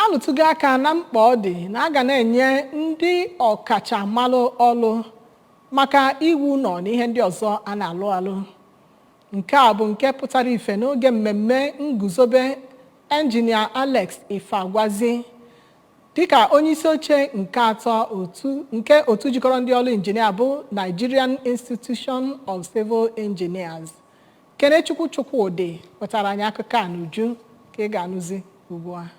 A lụtụgo aka na mkpa ọ dị na a ga na-enye ndị ọkachamalụ ọlụ maka iwu ụnọ na ihe ndị ọzọ a na-alụ alụ. Nke a bụ nke pụtara ife n'oge mmemme nguzobe Engineer Alex Ifeagwazi dịka onyeisi oche nke atọ nke otu jikọrọ ndị ọrụ injinia bụ Nigerian Institution of Civil Engineers Kenechukwu Chukwudi wetara anyị akụkọ a n'uju ka ị ga-anụzi ugbu a.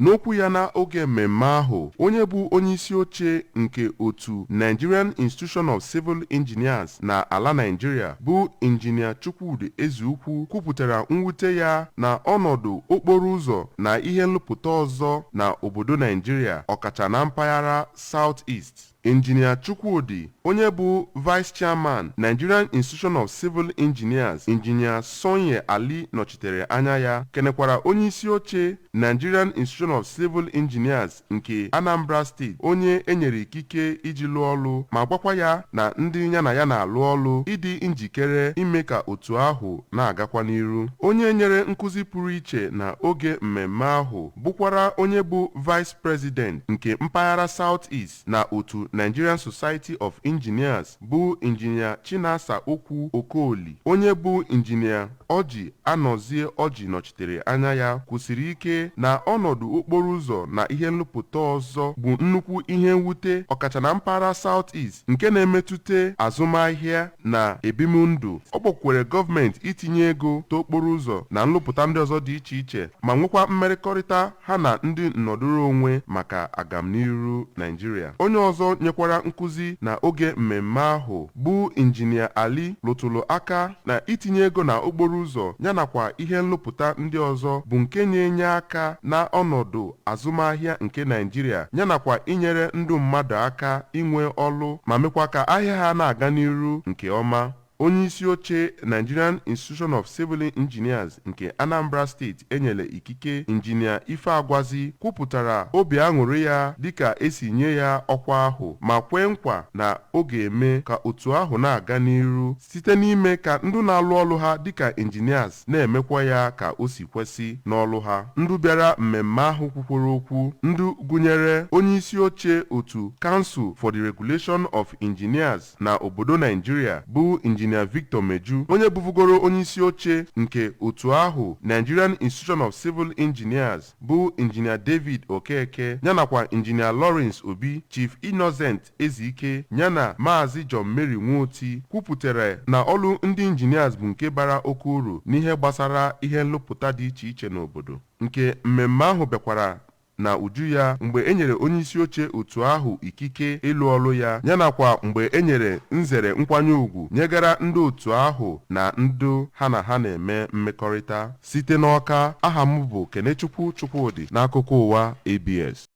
N'okwu ya na oge mmemme ahụ, onye bụ onyeisi oche nke otu Nigerian Institution of Civil Engineers na ala Nigeria bụ Injinia Chukwudi Ezeukwu kwupụtara mwute ya na ọnọdụ okporo ụzọ na ihe nlụpụta ọzọ na obodo Nigeria ọkacha na mpaghara South East. Injinia Chukwudi, onye bụ Vice Chairman, Nigerian Institution of Civil Engineers, Injinia Sony Ali nọchitere anya ya, kenekwara onye isi oche Nigerian Institution of Civil Engineers nke Anambra State, onye e nyere ikike iji lụọ ọlụ, ma gwakwa ya na ndị ya na ya na-alụ ọlụ ịdị njikere ime ka otu ahụ na-agakwa n'iru. Onye nyere nkụzi pụrụ iche na oge mmemme ahụ bụkwara onye bụ Vice President nke mpaghara South East na otu Nigerian Society of Engineers bụ Injinia Chinasa Okwu Okoli, onye bụ Injinia Orji Anozie Orji nọchitere anya ya, kwusiri ike na ọnọdụ okporo ụzọ na ihe nlụpụta ọzọ bụ nnukwu ihe mwute ọkacha na mpaghara South East nke na-emetụta azụmahịa na ebimndụ. Ọ kpọkwere gọọmenti itinye ego na okporo ụzọ na nlụpụta ndị ọzọ dị iche iche ma nwekwa mmerịkọrịta ha na ndị nnọdụrụ onwe maka agamniru Naịjirịa. Onye ọzọ nyekwara nkuzi na oge mmemme ahụ bụ Injinia Ali lụtụrụ aka na itinye ego na okporo ụzọ ya nakwa ihe nlụpụta ndị ọzọ bụ nke na-enye aka na ọnọdụ azụmahịa nke Naịjirịa ya nakwa inyere ndụ mmadụ aka inwe ọlụ ma mekwa ka ahịa ha na-aga n'iru nke ọma. Onye isi oche Nigerian Institution of Civil Engineers nke Anambra State e nyele ikike Injinia Ifeagwazi kwupụtara obi aṅụrị ya dịka e si nye ya ọkwa ahụ ma kwee nkwa na ọ ga-eme ka otu ahụ na-aga n'iru site n'ime ka ndụ na-alụ ọlụ ha dịka engineers na-emekwa ya ka o si kwesị n'ọlụ ha. Ndụ bịara mmemme ahụ kwukwọrọ okwu ndụ gụnyere onye isi oche otu Council for the Regulation of Engineers, na obodo Naijiria bụ Injinia Victor Meju onye bụvugoro onyeisi oche nke otu ahụ Nigerian Institution of Civil Engineers bụ Injinia David Okeke yanakwa Injinia Lawrence Obi, Chief Innocent Ezike yana Maazị John Mary Nwoti kwupụtara na ọlụ ndị Engineers bụ nke bara oke uru n'ihe gbasara ihe nlụpụta dị iche iche n'obodo nke mmemme ahụ bịakwara na uju ya mgbe e nyere onyeisi oche otu ahụ ikike ịlụ ọlụ ya yanakwa mgbe e nyere nzere nkwanye ugwu nyegara ndị otu ahụ na ndị ha na ha na-eme mmekọrịta. Site n'Awka, aha m bụ Kenechukwu Chukwudị n'akụkọ ụwa ABS.